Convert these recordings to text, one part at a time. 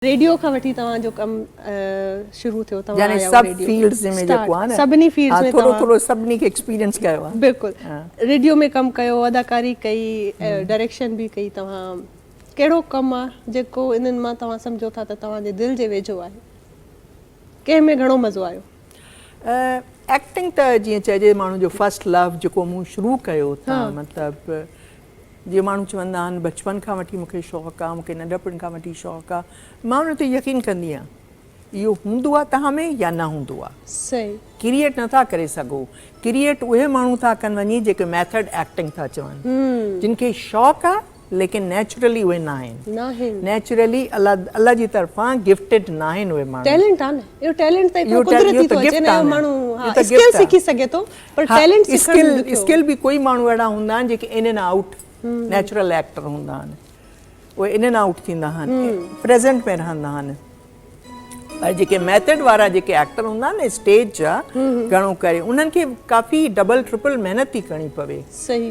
Radio کان وٺي توهان جو ڪم شروع ٿيو توهان يعني سڀ فيلڊز ۾ جيڪو آهي نه سڀني فيلڊز ۾ ٿورو ٿورو سڀني کي ايڪسپيرينس ڪيو آهي بلڪل ريڊيو ۾ ڪم ڪيو اداڪاري ڪئي ڊائريڪشن به ڪئي توهان ڪهڙو ڪم آهي جيڪو انهن مان توهان سمجهو ٿا ته توهان جي دل جي ويجهو آهي ڪنهن ۾ گهڻو مزو آيو ايڪٽنگ ته جيئن چئجي ماڻهو جو فرسٽ لو جيڪو مون شروع ڪيو ته مطلب جيئن ماڻهو چوندا آهن بچپن کان وٺي مون کي شوق آ، مون کي ننڍپڻ کان وٺي شوق آ، مان ان تي يقين ڪندي آهيان. اهو هوندو آ توهان ۾ يا نه هوندو آ. صحيح. ڪريئيٽ نه ٿا ڪري سگهو. ڪريئيٽ اهي ماڻهو ٿا ڪن وڃي جيڪي ميٿڊ ايڪٽنگ ٿا چون. جن کي شوق آ ليڪن نيچرلي اهي نه آهن. ناهن. نيچرلي الله جي طرفان گفٽيڊ ناهن اهي ماڻهو. ٽيلنٽ آ نه. اهو ٽيلنٽ ته هڪڙو قدرتي ٿو اچي نه اهو ماڻهو اسڪل سکي سگهي ٿو پر ٽيلنٽ سکڻ ڏکيو ها اسڪل به ڪوئي ماڻهو اهڙا هوندا آهن جيڪي in and out natural actor هوندا آهن اهي ان اين آئوٽ ٿيندا آهن پريزنٽ ۾ رهندا آهن پر جيڪي ميٿڊ وارا جيڪي ايڪٽر هوندا آهن نه اسٽيج جا گهڻو ڪري انهن کي ڪافي ڊبل ٽرپل محنت ٿي ڪرڻي پوي صحيح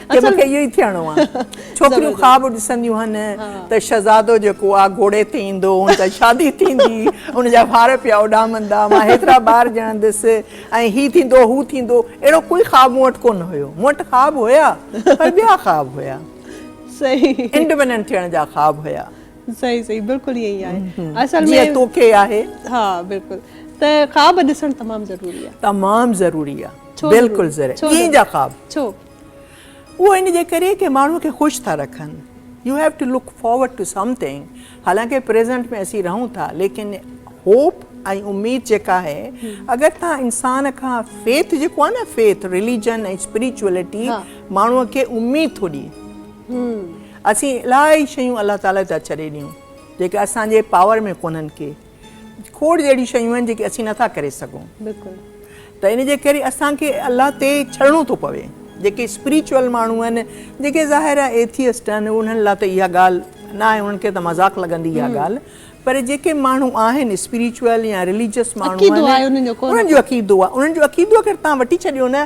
ته مون کي اهو ئي ٿيڻو آهي. ڇوڪريون خواب ڏسنديون آهن ته شهزادو جيڪو آهي گهوڙي تي ايندو، هن سان شادي ٿيندي، هن جا وار پيا اڏامندا، مان هيترا ٻار ڄڻندس ۽ هي ٿيندو، هو ٿيندو. اهڙو ڪوئي خواب مون وٽ ڪونه هيو. مون وٽ خواب هيا پر ٻيا خواب هيا. انڊپينڊنٽ ٿيڻ جا خواب هيا. صحيح صحيح بلڪل ائين ئي آهي. اصل ۾ جيئن توکي آهي. ها بلڪل ته خواب ڏسڻ تمام ضروري آهي. تمام ضروري آهي. بلڪل ضروري آهي. ائين جا خواب. ڇو؟ اهو ان جي ڪري ڪي ماڻهو کي خوش ٿا رکن. You have to look forward to something حالانڪه پريزنٽ ۾ اسين رهون ٿا ليڪن هوپ ۽ اميد جيڪا آهي اگر توهان انسان کان فيٿ جيڪو آهي نه فيٿ رليجن ۽ اسپريچوئلٽي ماڻهو کي اميد ٿو ڏي اسين الائي شيون الله تعالي ته ڇڏي ڏيون جيڪي اسان جي پاور ۾ ڪونهن ڪي کوڙ اهڙيون شيون آهن جيڪي اسين نٿا ڪري سگهون ته ان جي ڪري اسان کي الله تي ڇڙڻو ٿو پوي جيڪي اسپريچوئل ماڻهو آهن جيڪي ظاهر آهي ايٿيسٽ آهن انهن لاء ته اها ڳالهه نه آهي انهن کي ته مذاق لڳندي اها ڳالهه پر جيڪي ماڻهو آهن اسپريچوئل يا رليجس ماڻهو آهن انهن جو عقيدو آهي انهن جو عقيدو اگر تان وٺي ڇڏيو نه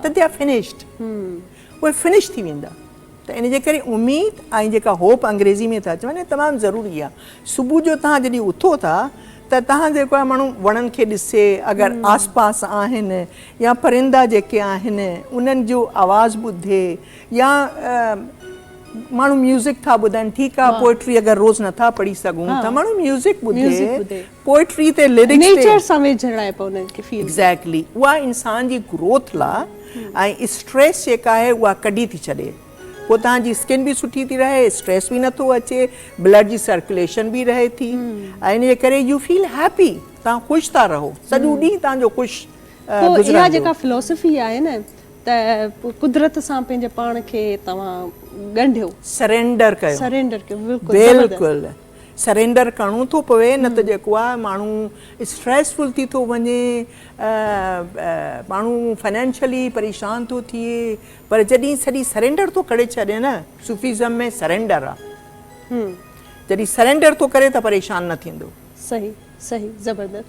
ته دي آر فنشڊ اهي فنش ٿي ويندا ته ان جي ڪري اميد ۽ جيڪا هوپ انگريزي ۾ ٿا چون تمام ضروري آهي صبح جو توهان جڏهن اٿو ٿا ته توهان جيڪو آهي ماڻهو وڻن کي ڏسي اگر آس پاس آهن يا پرندا جيڪي آهن انهن جو آواز ٻڌي يا ماڻهو ميوزڪ ٿا ٻڌن ٺيڪ آهي پوئٽري اگر روز نٿا پڙهي سگهون ته ماڻهو ميوزڪ ٻڌي پوئٽري تي لرڪس تي نيچر سان ويجهڙائپ انهن کي فيل ٿئي ايگزيڪٽلي اها انسان جي گروٿ لا۽ اسٽريس جيڪا آهي اها ڪڍي ٿي ڇڏي پوء توهان جي اسڪن به سٺي ٿي رهي اسٽريس به نٿو اچي بلڊ جي سرڪوليشن به رهي ٿي ۽ ان جي ڪري يو فيل هيپي توهان خوش ٿا رهو سڄو ڏينهن توهان جو خوش پوء اها گذرندو جيڪا فلاسفي آهي نه ته قدرت سان پنهنجي پاڻ کي توهان ڳنڍيو سرينڊر ڪيو سرينڊر ڪيو بلڪل زبردست بلڪل سرينڊر ڪرڻو ٿو پوي نه ته جيڪو آ ماڻهو اسٽريس فل ٿي ٿو وڃي ماڻهو فنانشلي پريشان ٿو ٿئي پر جڏهن سڄي سرينڊر ٿو ڪري ڇڏي نه صوفيزم ۾ سرينڊر آ جڏهن سرينڊر ٿو ڪري ته پريشان نه ٿيندو. صحيح صحيح زبردست